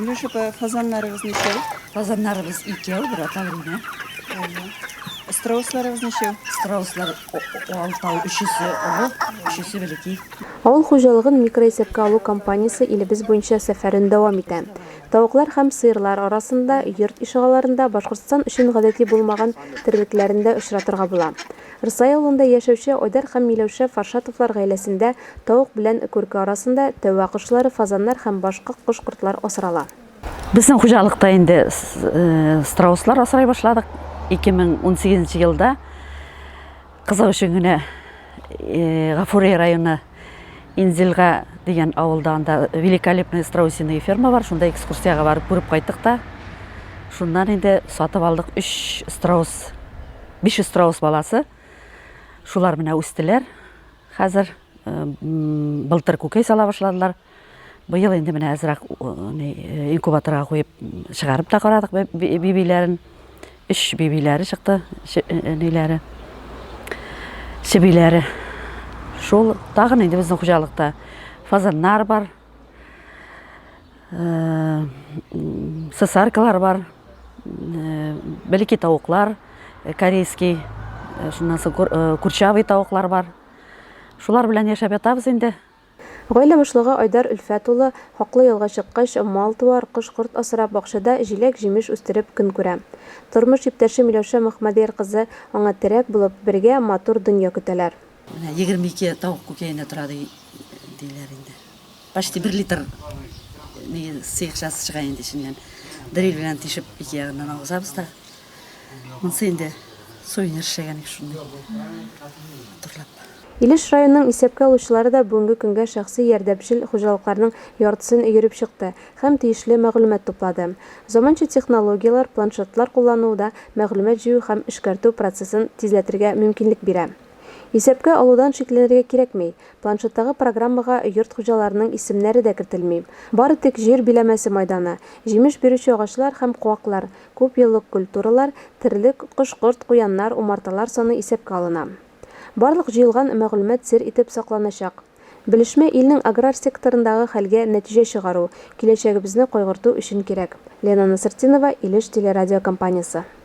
Миләш апа, фазаннарыгыз ничәү? Фазаннарыбыз икәү, бер аталар генә. Страусларыгыз ничәү? Страуслар алтау, өчесе олы, өчесе бәләкәй. Авыл хуҗалыгын микроисәпкә алу кампаниясе илебез буенча сәфәрен дәвам итә. Тавыклар һәм сыерлар арасында, йорт ишегалларында Башкортстан өчен гадәти булмаган терлекләрен дә очратырга була. Рсай авылында яшәүче Айдар һәм Миләүшә Фаршатовлар гаиләсендә тавык белән күрке арасында тәвә кошлары, фазаннар һәм башка кош-кортлар асрала. Безнең хуҗалыкта инде страуслар асрый башладык. 2018 елда кызык өчен генә Гафури районы Инзилга дигән авылда анда великолепные страусиные ферма бар, шунда экскурсиягә барып күреп кайттык та. Шуннан инде сатып алдык 3 страус, 500 страус баласы. Шулар менә үстеләр. Хәзер былтыр күкәй сала башладылар. Быел инде менә әзрәк инкубаторга куеп чыгарып та карадык бибиләрен. Өч бибиләре чыкты, ниләре, чебиләре. Шул тагын инде безнең хуҗалыкта фазаннар бар, сосаркалар бар, белеки тавыклар, корейский, шуннан соң курчавый тавыклар бар. Шулар белән яшәп ятабыз инде. Гаилә башлыгы Айдар Өлфәт улы, хаклы ялга чыккач, мал-туар, кош-корт асрап, бакчада җиләк-җимеш үстереп көн күрә. Тормыш иптәше Миләүшә Мөхмәдияр кызы аңа терәк булып, бергә матур дөнья көтәләр. Менә егерме ике тавык күкәенә тора, ди, диләр инде. Почти бер литр нигә сыекчасы чыга инде эченнән. Дриль белән тишеп, ике ягыннан агызабыз да. Монсы инде сувенир эшләгән ик шундый. Матурлап. Илеш районының исәпкә алучылары да бүгенге көнгә шәхси ярдәмчел хуҗалыкларның яртысын өереп чыкты һәм тиешле мәгълүмат туплады. Заманча технологияләр, планшетлар куллануы да мәгълүмат җыю һәм эшкәртү процессын тизләтергә мөмкинлек бирә. Исәпкә алудан шикләнергә кирәкми, планшеттагы программага йорт хуҗаларының исемнәре дә кертелми, бары тик җир биләмәсе майданы, җимеш бирүче агачлар һәм куаклар, күпьеллык культуралар, терлек, кош-корт, куяннар, умарталар саны исәпкә алына. Барлык җыелган мәгълүмат сер итеп сакланачак. Белешмә илнең аграр секторындагы хәлгә нәтиҗә чыгару, киләчәгебезне кайгырту өчен кирәк. Лена Насыртдинова, Илеш телерадиокомпаниясе.